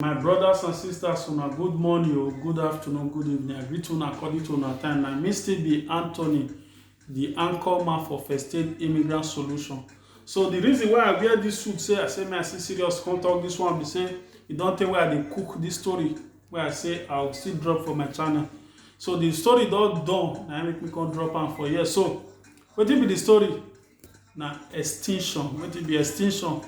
My brothers and sisters, una good morning or good afternoon, good evening. I greet una according to una time. Na me still be Anthony, the anchor man for First Aid Immigrant Solution. So the reason why I wear this suit, say I say me I see serious come talk this one be say e don tey wey I dey cook this story wey I say I will still drop for my channel. So the story don done, na im make me come drop am for here. So wetin be the story? na extinction wetin be extinction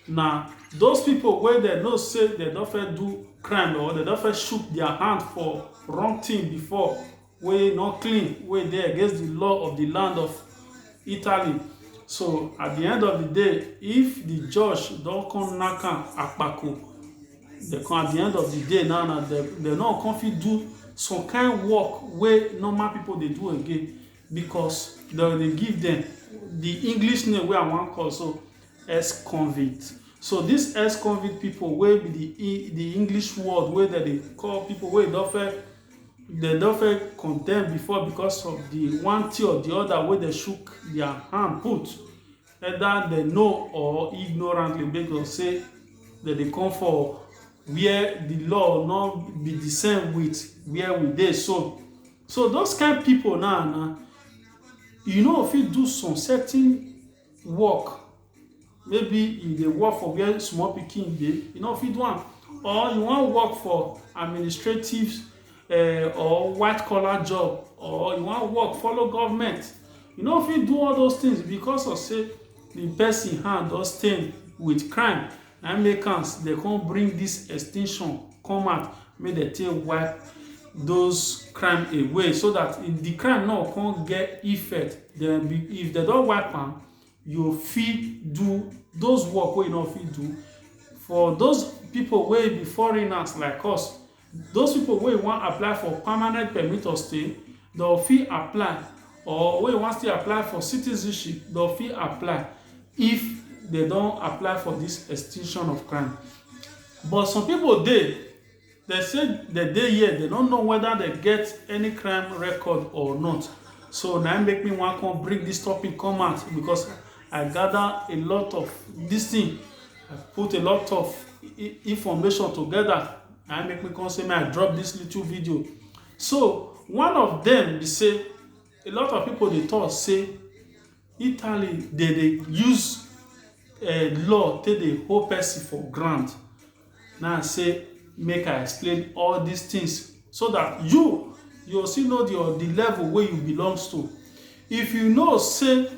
na those people wey dem know say dem don first do crime or dem don first shook their hand for wrong thing before wey no clean wey dey against the law of the land of Italy so at the end of the day if the judge don come knack am akpako dem come at the end of the day now na dem dem no go come fit do some kind work wey normal people dey do again because dem dey give dem the english name wey i wan call so ex-convict so this ex-convict people wey be the E- the english word wey dem dey call people wey don fẹ́ dem don fẹ́ condemn before because of the one thing or the other wey dem shook their hand put either dem know or ignorantly make dem say dem dey come for where the law no be the same with where we dey so So those kind people now, now you know if you do some certain work, maybe you dey work for where small pikin dey, you know if you do am, or you wan work for administrative uh, or white collar job, or you wan work follow government, you know if you do all those things because of say the person hand don stain with crime Na im make am dem come bring this extinction come out make dem take wipe those crime away so that if the crime no come get effect then if dem don wipe am you fit do those work wey you no fit do for those people wey be foreigners like us Those pipo wey wan apply for permanent permit of stay dem fit apply or wey wan still apply for citizenship dem fit apply if dem don apply for dis extinction of crime but some pipo dey dem say dem dey here dem no know weda dem get any crime record or not so na im make me wan come bring dis topic come out becos I gada a lot of dis tin put a lot of information togeda. na make me come say may i drop this little video so one of them be say a lot of people dey talk say italy dey dey use eh, law take dey hold person for ground now i say make i explain all these things so that you you still know the, the level wey you belongs to if you know say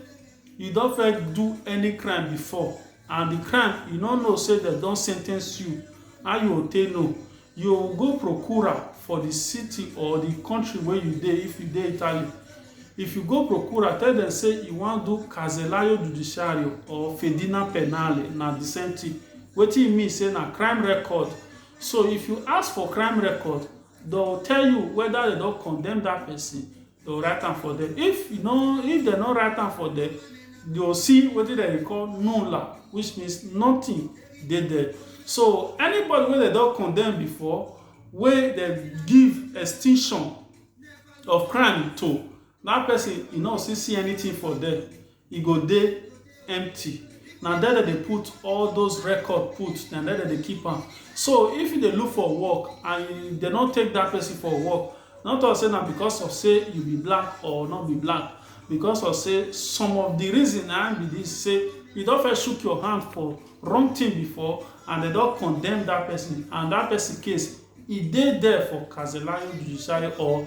you don first do any crime before And the crime you no know say dem don sentence you, how you go take know? You go procura for the city or the country wey you dey if you dey Italy. If you go procura, tell dem say you wan do casellaio giudiziario or fedina penale, na the same thing. Wetin e mean say na crime record. So if you ask for crime record, dem go tell you whether dem don condemn that person they will write am for there if you know if they no write am for there you will see wetin dem dey call nulla which means nothing dey there so anybody wey dem don condemn before wey dem give extinction of crime to that person e no still see anything for there e go dey empty na there dem dey put all those record put na there dem dey keep am so if you dey look for work and you dem no take that person for work no talk say na because of say you be black or no be black because of say some of the reason na him be this say you don first shook your hand for wrong thing before and dem don condemn that person and that person case e dey there for Karzelayo judiciary or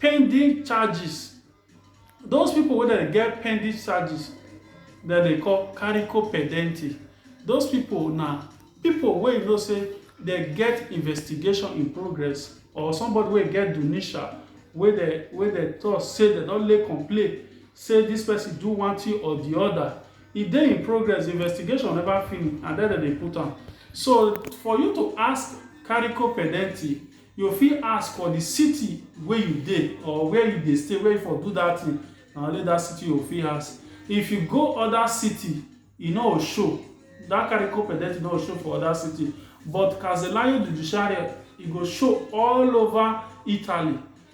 pending charges. Those people wey dem get pending charges, dem dey call carico pendente. Those people na people wey you know say dem get investigation in progress or somebody wey get dunisha wey dem wey dem talk say dem don lay complain say this person do one thing or the other. E dey in progress, the investigation never finish and then dem dey put am. So for you to ask carico pendente, You fit ask for di city wey you dey or where you dey stay wey you for do dat thing, na only dat city you go fit ask. If you go other city, e no go show, dat carry code pedestrian no go show for other city but Casellario Judiciario e go show all over Italy.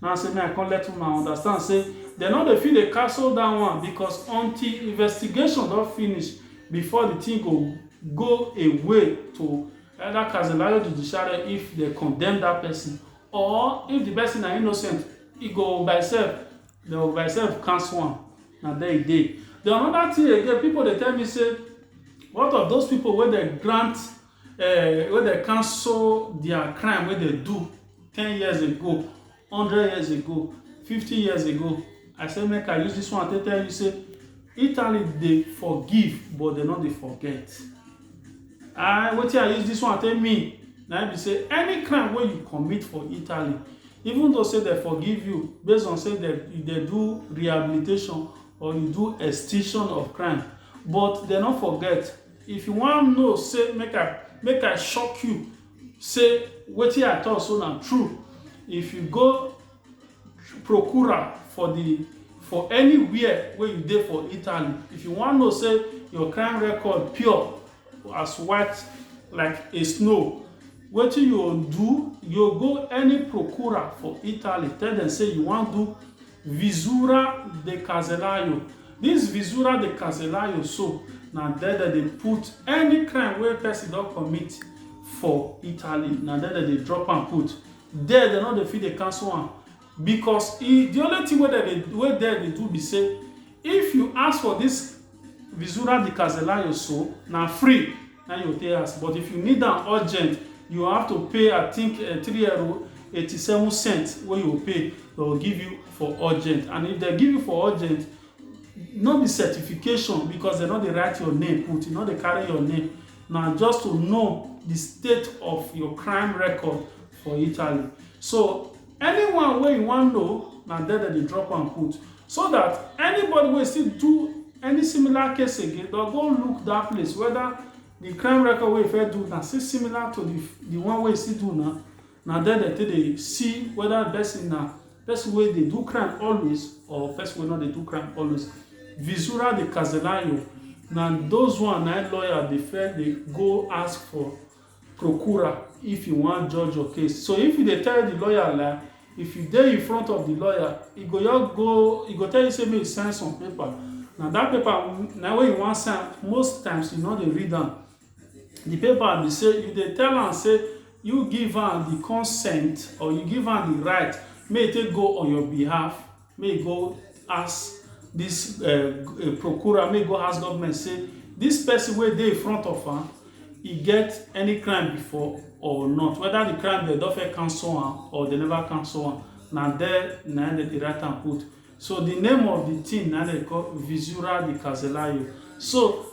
Na say make I come let una understand say dem no dey fit dey castle dat one because until investigation don finish before di tin go go a way to either casellario judiciare if dem condemn dat pesin or if di pesin na innocent e go by sef dem go by sef cancel am na there e dey. Den anoda tin again pipu dey tell me say what of those pipu wey dem grant eh, wey dem cancel their crime wey dem do ten years ago hundred years ago fifty years ago i say make i use this one take tell you say italy dey forgive but dem no dey forget and wetin i use this one take mean na be say any crime wey you commit for italy even though say dem forgive you based on say dem dey do rehabilitation or you do extinction of crime but dem no forget If you wan know say make I make I shock you say wetin I talk so na true, if you go procure am for the for anywhere wey you dey for Italy, if you wan know say your crime record pure as white like a snow, wetin you go do, you go go any procure for Italy tell dem say you wan do Visura de Caselayo, Dis Visura de Caselayo so na there dem dey put any crime wey person don commit for Italy, na there dem dey drop am put. There dem no dey fit dey cancel am because e the only thing wey dem dey wey there dey do be sey if you ask for dis Visura di Caselayo so na free na im you go take ask but if you need am urgent you have to pay I think three ero eighty seven cent wey you go pay dem go give you for urgent and if dem give you for urgent no be certification because dem no dey write your name put e no dey carry your name na just to know di state of your crime record for Italy so Anyone wey you wan know, na there dem dey drop am put, so that anybody wey still do any similar case again, dem go look that place whether the crime record wey e first do na still similar to the the one wey e still do now, na there dem take dey see whether the person na person wey dey do crime always or person wey no dey do crime always. Visura de Casenayo na those one na im lawyer dey first dey go ask for Procura if you wan judge your case so if you dey tell di lawyer lie if you dey infront of di lawyer e go just go e go tell you say make you sign some paper na dat paper na wey you wan sign most times you no dey read am di paper be say you dey tell am say you give am di consent or you give am di right make e take go on your behalf May e go ask dis procurer, may e go ask government say dis person wey dey infront of am, e get any crime before or not. Whether the crime dem don first cancel am or dem never cancel am. Na dere na im dem dey write am put. So, the name of the thing na im dem dey call Visura de Carcelário. So,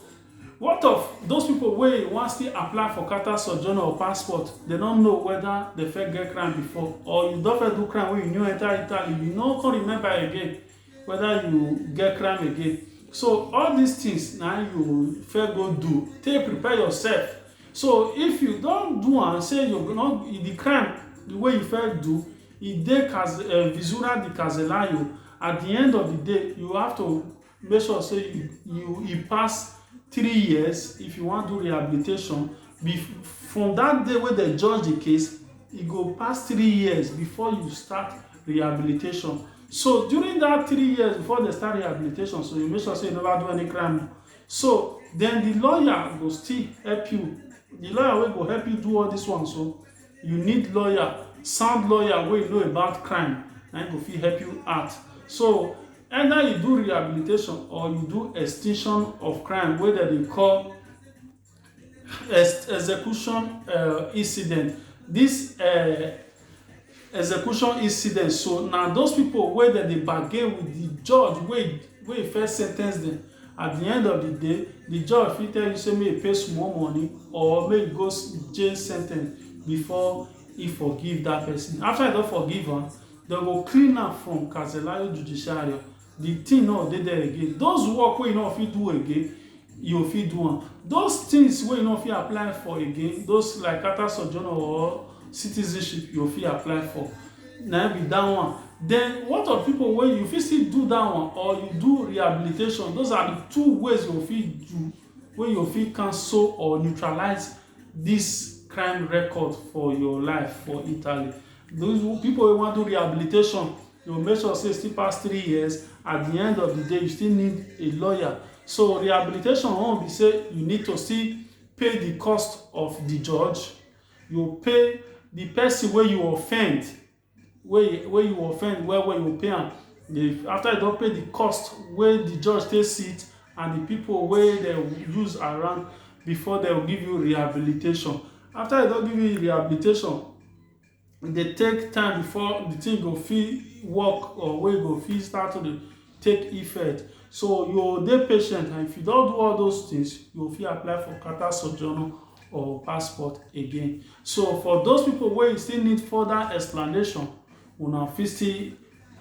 What of those people wey wan still apply for Qatar sojourner or passport, dem no know whether dem first get crime before or you don first do crime wey you new enter Italy, you no come remember again whether you get crime again. So all these things na im you first go do take prepare yourself. So if you don do am sey you no the crime wey you first do e dey caz um visura di casellayo, at di end of di day you have to make sure say you you e pass three years if you wan do rehabilitation be from that day wey dem judge the case e go pass three years before you start rehabilitation so during that three years before dem start rehabilitation so you make sure say you never do any crime so then the lawyer go still help you the lawyer wey go help you do all this one so you need lawyer, sound lawyer wey know about crime na im go fit help you out. So either you do rehabilitation or you do extinction of crime wey dem dey call ex execution um incident. Dis um execution incident so na those pipu wey dem dey bargain with de judge wey wey first sentence dem At di end of di day, di judge fit tell you say make you pay small money or make you go jail sentence before e forgive dat person. After e don forgive am, dem go clean am from Carcelario Judiciario. Di thing no go dey there again. Those work wey you no go fit do again, you go fit do am. Those things wey you no go fit apply for again, those like carta sojourno or citizenship yo fit apply for na im be that one then what of people wey you fit still do that one or you do rehabilitation those are the two ways you fit do wey you fit cancel or neutralize this crime record for your life for Italy those people wey wan do rehabilitation you go make sure say still pass three years at the end of the day you still need a lawyer so rehabilitation own be say you need to still pay the cost of the judge You pay the person wey you offend wey wey you offend well well, you go pay am. If after you don pay the cost wey the judge take sit and the people wey dey use around before dey go give you rehabilitation. After dey don give you rehabilitation, e dey take time before the thing go fit work or wey go fit start to dey take effect. So you go dey patient and if you don do all those things, you go fit apply for carter sojourner or passport again. So for those people wey still need further explanation, una fit still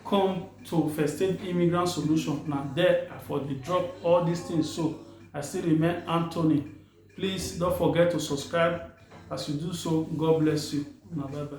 come to First Aid Immigrant Solution. Na there I for dey drop all these things so. I still remain Anthony. Please don't forget to subscribe. As you do so, God bless you. Una bye bye.